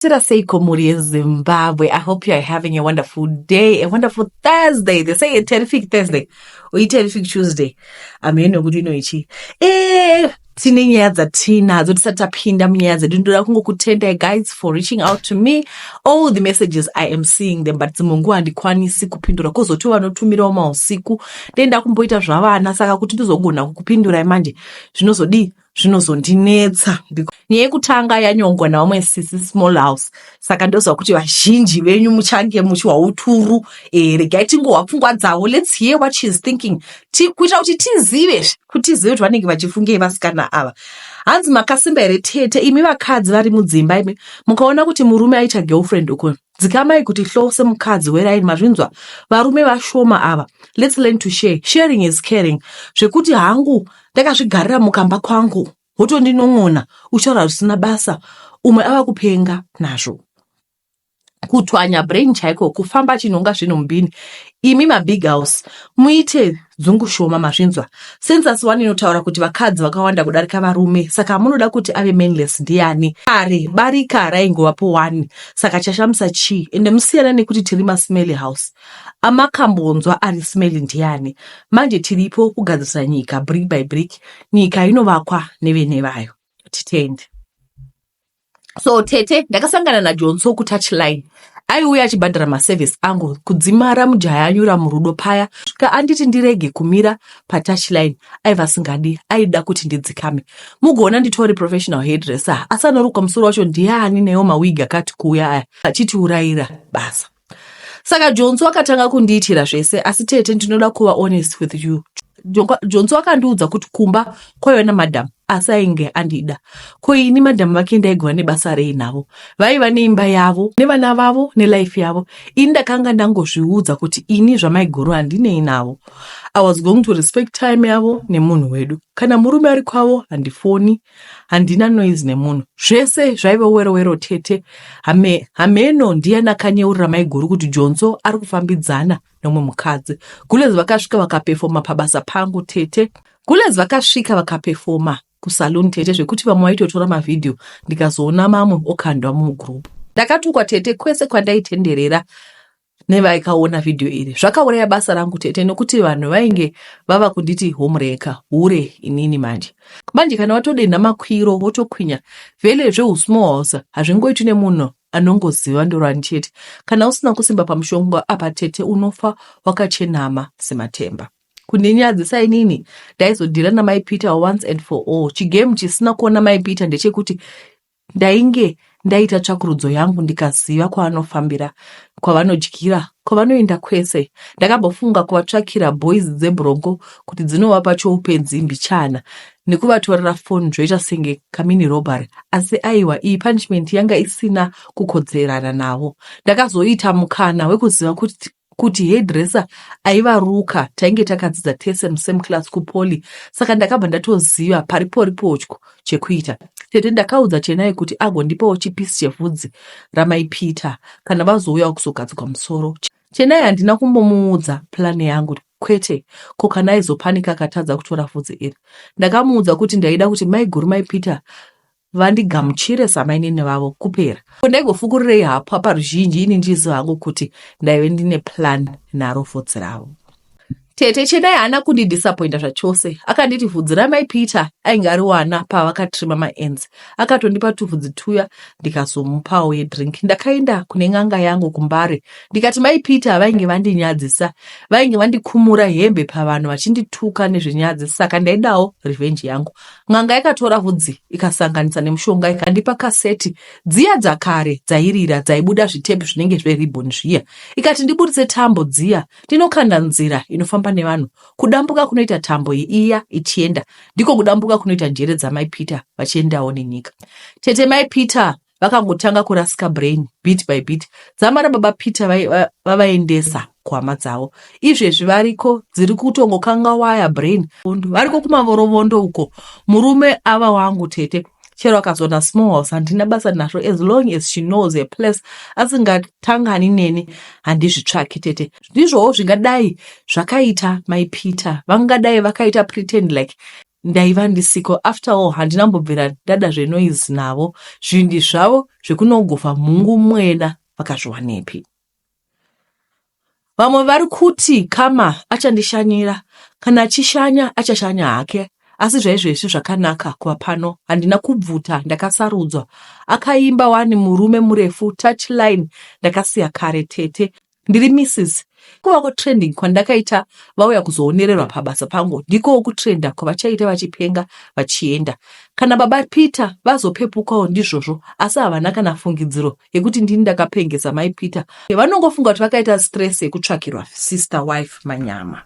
Tira seiko mhuri yezimbabwe i hope you are having a wonderful day a wonderful thursday they say a terrific thursday or a terrific tuesday amene nokuti ino ichi eh tine nyaya dzatinadzo tisati tapinda munyaya dzedu ndoda kungokutendai guys for reaching out to me all the messages i am seeing them but dzimwe nguva handikwanisi kupindura kozoti vanotumirawo mausiku ndenda kumboita zvavana saka kuti ndizogona kukupindurai manje zvinozodii zvinozondinetsa nyaya yekutanga yanyongwa navamwe sisi small house saka ndoziva kuti vazhinji venyu muchange muchiwa uturu e, regai tingohwa pfungwa dzavo lets hear what she is thinking kuitira kuti tizive kuti tizive kuti vanenge vachifungei vasikana ava hanzi makasimba here tete imi vakadzi vari mudzimba imi mukaona kuti murume aita girlfriend uko dzikamai kuti hlow semukadzi weraini mazvinzwa varume vashoma ava let's learn to share sharing is caring zvekuti hangu ndakazvigarira mukamba kwangu wotondinon'ona uchitaura zvisina basa umwe ava kupenga nazvo kutwanya brain chaiko kufamba chinonga zvinhu mubhini imi mabig house muite Dzungu shoma mazvinzwa. Census one inotaura kuti vakadzi vakawanda kudarika varume saka amunoda kuti ave mainless ndiani? Kare barika raingovapo one saka chashamisa chii ende musiyana nekuti tiri masmelly house. Amakambonzwa ari smelly ndiani? Manje tiripo kugadzirisa nyika brick by brick. Nyika inovakwa nevene vayo. Titende. so tete ndakasangana najonso kutouch line aiuya achibhadhara maservice angu kudzimara mujaya anyura murudo paya svika anditi ndirege kumira patouch line aiva asingadi aida kuti ndidzikame mugoona nditori professional hairdresser asi anorukwa musoro wacho ndiani newo mawig akati kuuya aya achitiurayira basa saka jonzi wakatanga kundiitira zvese asi tete ndinoda kuva honest with you jonzi wakandiudza kuti kumba kwaiva namadam asi ainge andida ko ini madam vake ndaigova nebasa rei navo vaiva neimba yavo nevana vavo nelife yavo ini ndakanga ndangozviudza kuti ini zvamaiguru handinei navo i was going to respect time yavo nemunhu wedu kana murume ari kwavo handifoni handina noise nemunhu zvese zvaive werowero tete hame hameno ndiyani akanyeurira maiguru kuti jonso ari kufambidzana nomwe mukadzi gulez vakasvika vakapefoma pabasa pangu tete gulez vakasvika vakapefoma kusaloon tete zvekuti vamwe vaitotora mavhidhiyo ndikazoona mamwe okandwa mugroup ndakatukwa tete kwese kwandaitenderera nevaikaona vhidhiyo iri zvakauraya basa rangu tete nokuti vanhu vainge vava kunditi homureka hure inini manje manje kana watodenha makwiro wotokwinya vele zveusmohosa hazvingoiti nemunhu anongoziva ndorani chete kana usina kusimba pamushongo apa tete unofa wakachenama sematemba kundinyadzisa inini ndaizodhira namai peter once and for all chigame chisina kuona mai peter ndechekuti Ndainge ndaita tsvakurudzo yangu ndikaziva kwavanofambira, kwavanodyira, kwavanoenda kwese. Ndakambofunga kuvatsvakira boys dzebronco kuti dzinovapa choupenzi mbichana nekuvatorera phone zvoita senge kamini robbery asi aiwa iyi punishment yanga isina kukodzerana navo. Ndakazoita mukana wekuziva kuti kuti hairdresser aiva ruka tainge takadzidza tese musame class kupoly saka ndakabva ndatoziva pariporipotyo chekuita tete ndakaudza chenai kuti agondipawo chipisi chevhudzi ramaipita kana vazouyawo kuzogadzwa musoro chenai handina kumbomuudza plani yangu kwete ko kana aizopanika akatadza kutora vhudzi iri ndakamuudza kuti ndaida kuti maiguru maipita vandigamuchire samainini vavo kupera ko ndaigofukurirei hapwa paruzhinji ini ndichiziva hangu kuti ndaive ndine plan naro vhudzi ravo tete chedai haana kundidisappointa zvachose akanditi vhudzi ramai peter ainge ari wana pavakatrima maenzi akatondipa tuvhudzi tuya ndikazomupawo yedrink ndakaenda kune n'anga yangu kumbare ndikati mai peter vainge vandinyadzisa vainge vandikumura hembe pavanhu vachindituka nezvenyadzi saka ndaidawo revenge yangu N'anga yakatora vhudzi ikasanganisa nemushonga ikandipa kaseti dziya dzakare dzairira dzaibuda zvitepi zvinenge zveribon zviya ikati ndiburitse tambo dziya ndinokanda nzira inofamba nevanhu kudambuka kunoita tambo iya ichienda ndiko kudambuka kunoita njere dzamai peter vachiendawo nenyika tete mai peter vakangotanga kurasika brain bit by bit dzamara baba peter vavaendesa va, va kuhama dzavo izvezvi variko dziri kutongokanga waya brain variko kumavorovondo uko murume ava wangu tete chero akazoona small house handina basa nazvo as long as she knows her place asingatangani neni handizvitsvaki tete ndizvowo zvingadai zvakaita mai peter vangadai vakaita pretend like ndaiva ndisiko after all handina mbobvira ndada zvenoise navo zvindi zvavo zvekunogofa mhungu mwena vakazviwanepi vamwe vari kuti kama achandishanyira kana achishanya achashanya hake asi zvaizvezvi zvakanaka kuva pano handina kubvuta ndakasarudzwa akaimba wani murume murefu touchline ndakasiya kare tete Ndiri Mrs. Kuva kutrending kwandakaita vauya kuzoonererwa pabasa pangu ndikowo kutrenda kwavachaita vachipenga vachienda. Kana baba Peter vazopepukawo ndizvozvo asi havana kana fungidziro yekuti ndini ndakapengesa mai Peter. Vanongofunga kuti vakaita stress yekutsvakirwa sister wife manyama.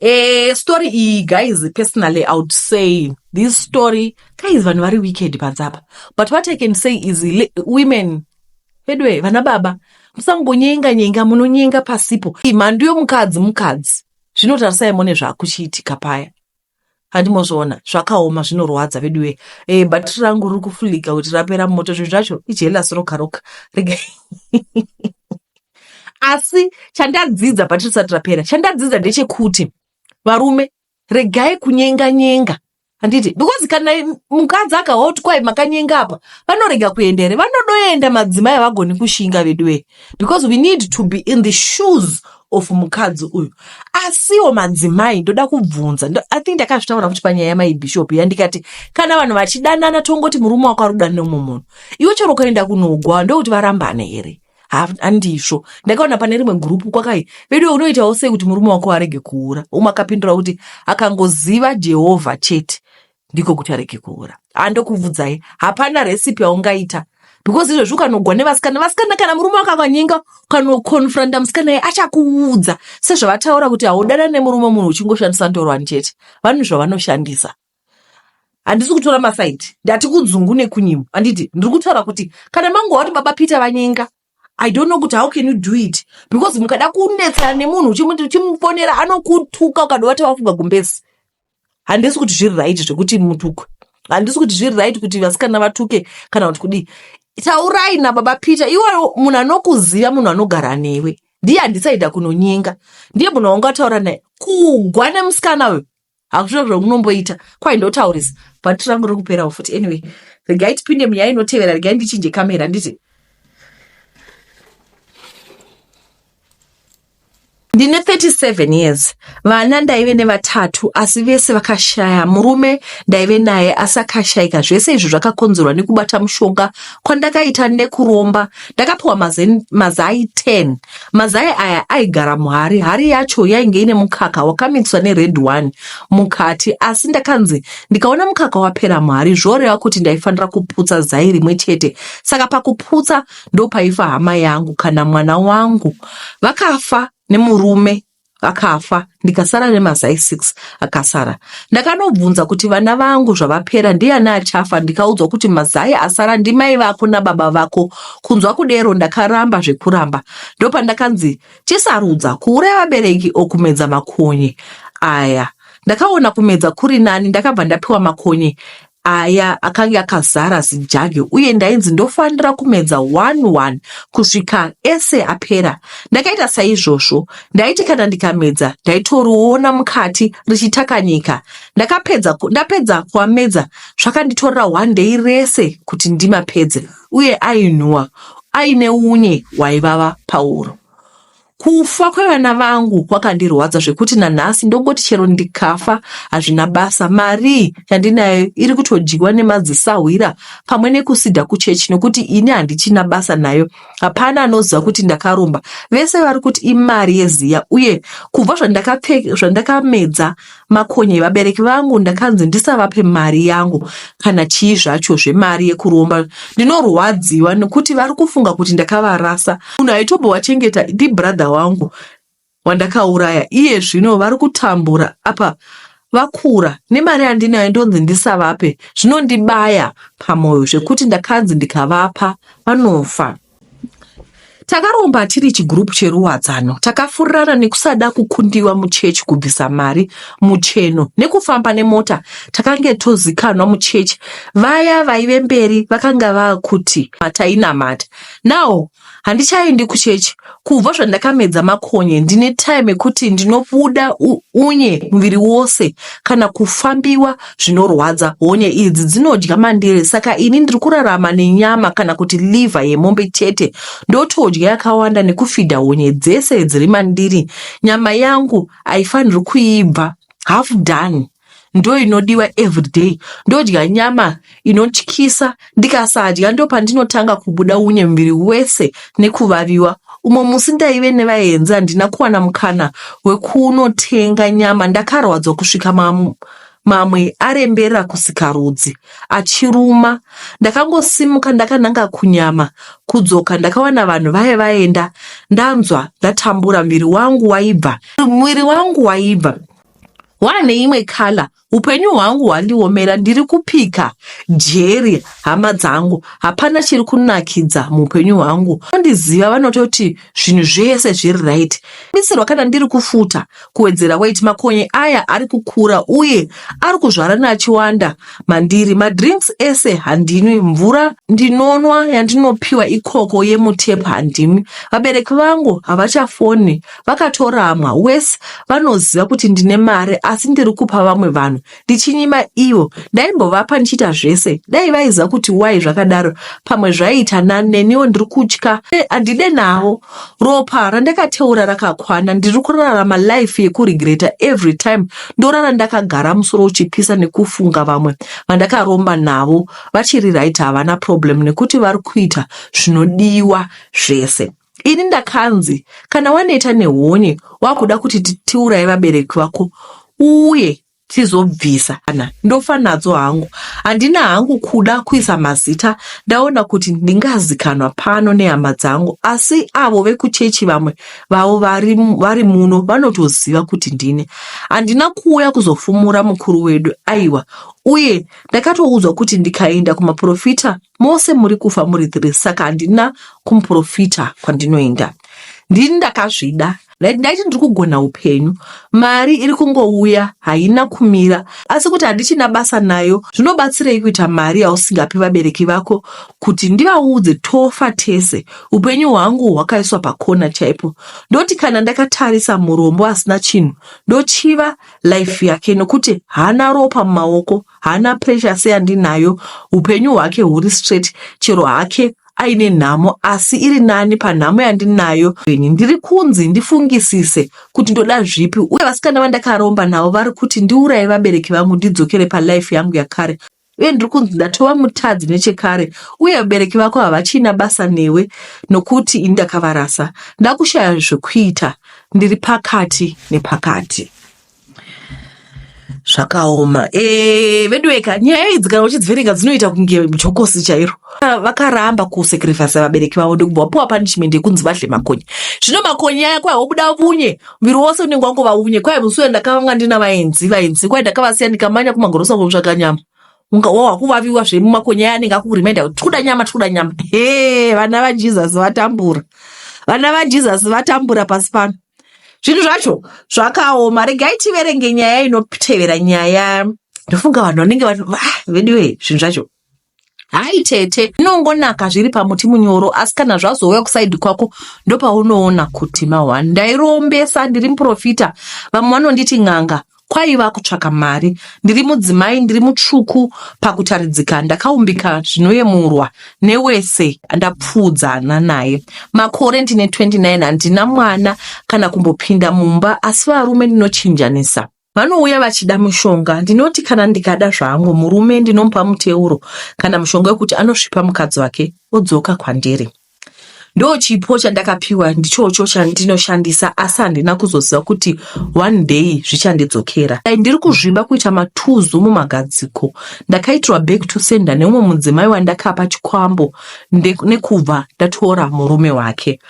Eh, story iyi guys personally i would say this story guys vanhu vari wicked panzapa but what i can say is women Veduwe vana baba musangonyenga nyenga munonyenga pasipo mhandu yomukadzi mukadzi zvino tarisai mone zvakuchiitika paya handimozviona zvakaoma zvinorwadza veduwe e eh, bhatiri rangu riri kufulika kuti rapera moto zvinhu zvacho ijelasi roka roka rega asi chandadzidza bhatiri risati rapera chandadzidza ndechekuti varume regai kunyenga nyenga handiti because kana mukadzi akahoti kwai makanyenga apa vanorega kuenda here vanodoenda madzimai havagoni kushinga veduwee because we need to be in the shoes of mukadzi uyu asiwo madzimai ndoda kubvunza i think ndakazvitaura kuti panyaya yamai bishop ya ndikati kana vanhu vachidanana tongoti murume wako ari kudanira mumwe munhu iwe chero ukaenda kunogwa ndokuti varambane here handizvo ndakaona pane rimwe gurupu kwakai veduwe unoitawo sei kuti murume wako arege kuura umwe akapindura kuti akangoziva jehovha chete ndiko kuti arege kuura andokubvudzai hapana recipe yaungaita because izvezvi ukanogwa nevasikana vasikana kana murume wakakanyenga ukanokonfronta musikana ye achakuudza sezvavataura kuti haudana nemurume munhu uchingoshandisa ndorwani chete vanu zvavanoshandisa handisi kutora masaidi ndati kudzungu nekunyimo handiti ndiri kutaura kuti kana mango wati baba peter vanyenga i don't know kuti how can you do it because mukada kunetsana nemunhu uchimufonera anokutuka ukada wati wafunga gumbezi handisi kuti zviri right zvekuti mutukwe handisi kuti zviri right kuti vasikana vatuke kana kuti kudii taurai nababa peter iwewo munhu anokuziva munhu anogara newe ndiye handisaida kunonyenga ndiye munhu waungataura naye kugwa nemusikana uyo hakuchiro zvamunomboita kwai ndotaurisa bhati rangu riri kuperawo futi anyway regai tipinde munyaya inotevera regai ndichinje kamera nditi ndine 37 years vana ndaive nevatatu asi vese vakashaya murume ndaive naye asi akashaika zvese izvi zvakakonzerwa nekubata mushonga kwandakaita nekuromba ndakapiwa mazai, mazai 10 mazai aya aigara muhari hari yacho yainge ine mukaka wakamikswa nered one mukati asi ndakanzi ndikaona mukaka wapera muhari zvoreva kuti ndaifanira kuputsa zai rimwe chete saka pakuputsa ndopaifa hama yangu kana mwana wangu vakafa nemurume akafa ndikasara nemazai six akasara ndakanobvunza kuti vana vangu zvavapera ndiyani achafa ndikaudzwa kuti mazai asara ndimai vako nababa vako kunzwa kudero ndakaramba zvekuramba ndopandakanzi chisarudza kuuraya vabereki okumedza makonye aya ndakaona kumedza kuri nani ndakabva ndapiwa makonye aya akange akazara zijage uye ndainzi ndofanira kumedza one one kusvika ese apera ndakaita saizvozvo ndaiti kana ndikamedza ndaitoriona mukati richitakanyika ndakapedza ndapedza kuamedza zvakanditorera one day rese kuti ndimapedze uye ainhuwa aine unye waivava pauro Kufa kwevana vangu kwakandirwadza zvekuti nanhasi ndongoti chero ndikafa hazvina basa. Mari yandinayo iri kutodyiwa nemadzisahwira pamwe nekusida kuchechi nokuti ini handichina basa nayo. Hapana anoziva kuti ndakaromba. Vese vari kuti imari yeziya uye kubva zvandakamedza Makonye vabereki vangu ndakanzi ndisavape mari yangu kana chii zvacho zvemari yekuromba ndinorwadziwa nekuti vari kufunga kuti ndakavarasa munhu aitobowachengeta ndibrother wangu wandakauraya iye zvino vari kutambura apa vakura nemari yandinayo ndonzi ndisavape zvinondibaya pamoyo zvekuti ndakanzi ndikavapa vanofa Takaromba tiri chigroup cheruwadzano, takafurirana nekusada kukundiwa muchechi kubvisa mari mucheno nekufamba nemota takange tozikanwa muchechi. Vaya vaive mberi vakanga vakuti matainamata. Now handichaendi kuchechi kubva zvandakamedza makonye ndine time ekuti ndinobuda unye muviri wose kana kufambiwa zvinorwadza honye idzi dzinodya mandiri saka ini ndiri kurarama nenyama kana kuti liver yemombe chete ndotodya yakawanda nekufidha honye dzese dziri mandiri nyama yangu haifaniri kuibva half done ndo inodiwa everyday ndodya nyama inotyisa ndikasadya ndo pandinotanga kubuda unye muviri wese nekuvaviwa umwe musi ndaive nevaenzi handina kuwana mukana wekunotenga nyama ndakarwadzwa kusvika mamwe arembera kusikarudzi achiruma ndakangosimuka ndakananga kunyama kudzoka ndakawana vanhu vaye vaenda ndanzwa ndatambura muviri wangu waibva muviri wangu waibva wane imwe kala upenyu hwangu hwandiomera ndiri kupika jeri hama dzangu hapana chiri kunakidza muupenyu hwangu vandiziva vanototi zvinhu zvese zviri right bisirwa kana ndiri kufuta kuwedzera wait makonye aya ari kukura uye ari kuzvarana achiwanda mandiri madrinks ese handinwi mvura ndinonwa yandinopiwa ikoko yemutep handinwi vabereki vangu havachafoni vakatoramwa wes vanoziva kuti ndine mari asi ndiri kupa vamwe vanhu ndichinyima ivo ndaimbovapa ndichiita zvese dai vaiziva kuti wai zvakadaro pamwe zvaiita nani neniwo ndiri kutya handide navo ropa randakateura rakakwana ndiri kurarama life yekurigreta every time ndorara ndakagara musoro uchipisa nekufunga vamwe vandakaromba navo vachiri right havana problem nekuti vari kuita zvinodiwa zvese ini ndakanzi kana waneta nehonye wakuda kuti tiuraye vabereki vako uye tizobvisa kana ndofa nadzo hangu handina hangu kuda kuisa mazita ndaona kuti ndingazikanwa pano nehama dzangu asi avo vekuchechi vamwe vavo vari, vari muno vanotoziva kuti ndine handina kuuya kuzofumura mukuru wedu aiwa uye ndakatoudzwa kuti ndikaenda kumaprofita Mose muri kufa muri three saka handina kumuprofita kwandinoenda. Ndini ndakazvida. Ndaiti ndiri kugona upenyu. Mari iri kungouya haina kumira asi kuti handichina basa nayo zvinobatsirei kuita mari yausingapi vabereki vako kuti ndivaudze tofa tese. Upenyu hwangu hwakaiswa pakona chaipo. Ndoti kana ndakatarisa murombo asina chinhu ndochiva life yake nokuti haana ropa mumaoko haana pressure seyandinayo upenyu hwake huri straight chero hake aine nhamo asi iri nani panhamo yandinayo ini ndiri kunzi ndifungisise kuti ndoda zvipi uye vasikana vandakaromba navo vari kuti ndiuraye vabereki vangu ndidzokere palife yangu yakare uye ndiri kunzi ndatova mutadzi nechekare uye vabereki vako havachina basa newe nokuti ini ndakavarasa ndakushaya zvekuita ndiri pakati nepakati zvakaoma eh, veduweka nyaya idzi kana uchidziverenga dzinoita kunge jokosi chairo vakaramba kusekrifasa vabereki vavo ndokubva wapiwa punishment yekunzi vadle makonye zvino makonye aya kwahobuda vunye muviri wose unenge wangova unye kwaye musi uya ndakavanga ndina vaenzi vaenzi kwaye ndakavasiya ndikamanya kumagorosa kunotsvaga nyama unga wava kuvaviwa zvemumakonya aya anenge akukurimenda kuti tikuda nyama tikuda nyama he vana vajesus vatambura vana vajesus vatambura pasi pano zvinhu zvacho zvakaoma regai tiverenge nyaya inotevera nyaya ndofunga vanhu vanenge veduwe zvinhu zvacho Hai tete, zvinongonaka zviri pamuti munyoro asi kana zvazouya kusaidi kwako ndopaunoona kuti mahwani. Ndairombesa ndiri muprofita, vamwe vanonditi n'anga, kwaiva kutsvaka mari. Ndiri mudzimai, ndiri mutsvuku pakutaridzika, ndakaumbika zvinoyemurwa newese andapfuudzana naye. Makore ndine 29, handina mwana kana kumbopinda mumba asi varume ndinochinjanisa. Vanouya vachida mushonga. Ndinoti kana ndikada zvangu murume ndinomupa muteuro kana mushonga wekuti anosvipa mukadzi wake odzoka kwandiri. Ndochipo chandakapiwa ndichocho chandinoshandisa asi handina kuzoziva kuti one day zvichandidzokera. Dai ndiri kuzvimba kuita matuzu mumagadziko ndakaitirwa back to sender neumwe mudzimai wandakapa chikwambo nekubva ndatora murume wake.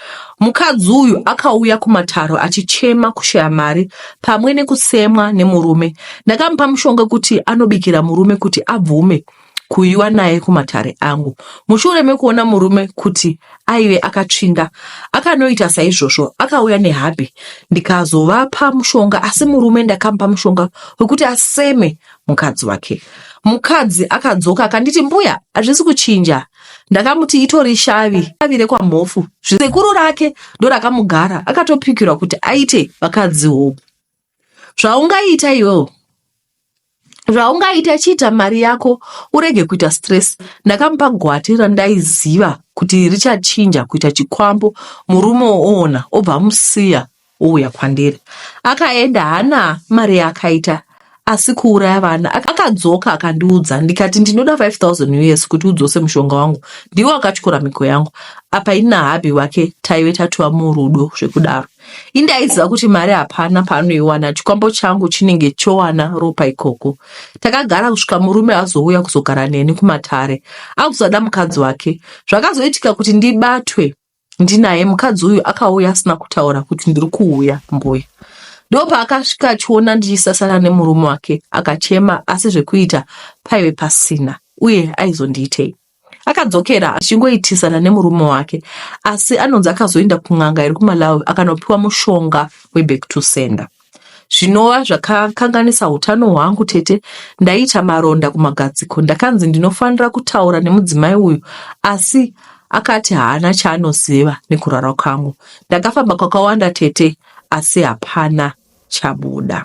Mukadzi uyu akauya kumataro achichema kushaya mari pamwe nekutsemwa nemurume. Ndakamupa mushonga kuti anobikira murume kuti abvume kuyiwa naye kumatare angu. Mushure mekuona murume kuti aive akatsvinda, akanoita saizvozvo, akauya nehabhi ndikazovapa mushonga, asi murume ndakamupa mushonga wekuti aseme mukadzi wake. Mukadzi akadzoka akanditi, mbuya, hazvisi kuchinja ndakamuti itori shavi shavi rekwamhofu zvisekuru rake ndorakamugara akatopikirwa kuti aite vakadzi hope zvaungaita iwewo zvaungaita chiita mari yako urege kuita stress ndakamupa gwati randaiziva kuti richachinja kuita chikwambo murume oona obva amusiya Ouya kwandiri akaenda hana mari yaakaita asi kuuraya vana akadzoka akandiudza ndikati ndinoda 5000 us kuti udzose mushonga wangu ndiwo akatyora mhiko yangu apa ini nahabhi wake taive tatova murudo zvekudaro indaiziva kuti mari hapana paanoiwana chikwambo changu chinenge chowana ropa ikoko takagara kusvika murume azouya kuzogara neni kumatare akuzada mukadzi wake zvakazoitika kuti ndibatwe ndinaye mukadzi uyu akauya asina kutaura kuti ndiri kuuya mbuya ndopaakasvika achiona ndichisasana nemurume wake akachema asi zvekuita paive pasina uye aizondiitei akadzokera achingoitisana nemurume wake asi anonzi akazoenda kun'anga iri kumalawi akanopiwa mushonga weback to sender zvinova zvakakanganisa utano hwangu tete ndaiita maronda kumagadziko ndakanzi ndinofanira kutaura nemudzimai uyu asi akati haana chaanoziva nekurara kwangu ndakafamba kwakawanda tete asi hapana chabuda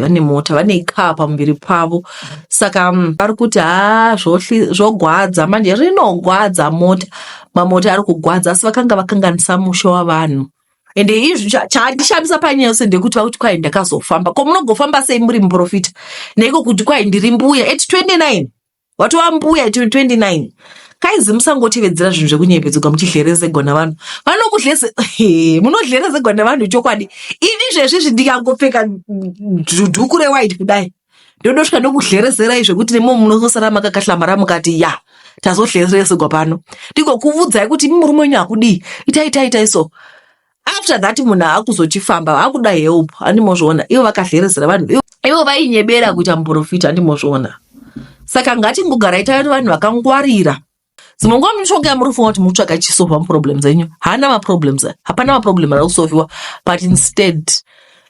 vane mota vane car pamuviri pavo saka mm, vari kuti haa zvogwadza manje rinogwadza mota mamota ari kugwadza asi vakanga vakanganisa musha wavanhu ende izvi chandishamisa panyaya yose ndekuti vakuti kwai ndakazofamba ko munogofamba sei muri muprofita neiko kuti kwai ndiri mbuya at 29 watova mbuya 29 kaizi musangotevedzera zvinhu zvekunyepedzerwa muchidhlerezegwa navanhu vanokudhleze munodhlerezegwa nevanhu chokwadi ini zvezvizvi ndikangopfeka dhuku rewhite kudai ndodosvika ndokudhlerezerai zvekuti nemo munosara makakahlamara mukati ya tazodhleresegwa pano ndigokuvudzai kuti murume wenyu hakudii itai itai itai so after that munhu aakuzochifamba akuda help andimozviona ivo vakadherezera vanhu ivo vainyebera kuita muprofita andimozviona saka ngatingogarai tave vanhu vakangwarira dzimwe nguva munotsvaga yamunofunga kuti munotsvaga chisolva muproblems enyu haana maproblems hapana maproblem ari kusolviwa but instead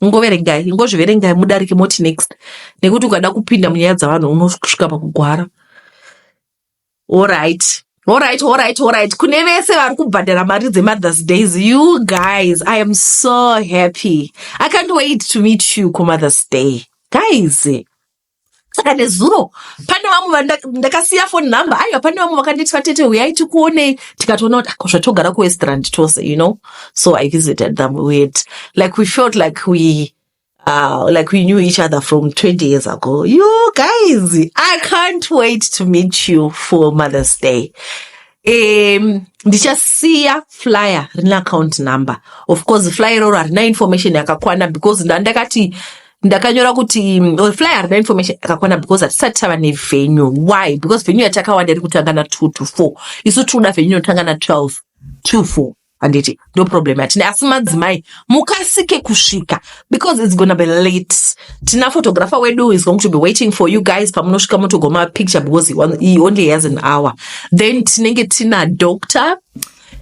ingoverengai ingozviverengai mudarike moti next nekuti ukada kupinda munyaya dzavanhu unosvika pakugwara orit orit orit orit kune vese vari kubhadhara mari dzemothers days you guys i am so happy i can't wait to meet you kumothers day guys saka nezuro pane vamwe vandakasiya foni number aiwa pane vamwe vakanditwa tete huyai tikuonei tikatoona kuti ako ah, zvatogara kuwestrand tose you know so i visited them weird like we felt like we Uh, like we knew each other from 20 years ago. You guys, I can't wait to meet you for Mother's Day. um, ndichasiya flyer rine account number of course flyer iroro harina information yakakwana because ndandakati ndakanyora kuti mm, flyer harina information yakakwana because hatisati tava nevenue why because venue yatakawanda iri kutanga na two to four isu tinoda venue inotanga na twelve two four handiti ndo problem yatine asi madzimai mukasike kusvika because its gonna be late tina photographer wedu is going to be waiting for you guys pamunosvika motogoma picture because he only has an hour then tinenge tina doctor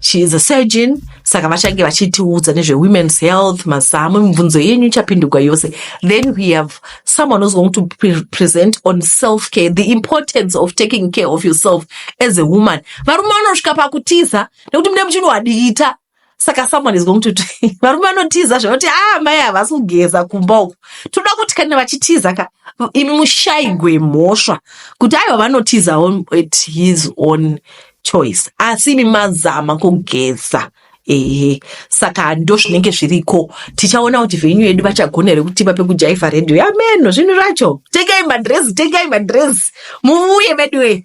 she is a surgeon saka vachange vachitiudza nezvewomen's health mazamu mibvunzo yenyu ichapindurwa yose then we have someone who's going to pre present on self care the importance of taking care of yourself as a woman varume vanosvika pakutiza nekuti mune muchini wadiita saka someone is going to varume vanotiza zvakuti a ah, mai havasi kugeza kumba uku toda kuti kana vachitiza ka imi mushaigwe mhosva kuti aiwa vanotiza at his own choice asi imi mazama kugeza ehe saka ndo zvinenge zviriko tichaona kuti venyu yedu vachagona here kutipa pekujaivha redio yameno zvinhu zvacho tengai madresi tengai madresi muvuye veduwee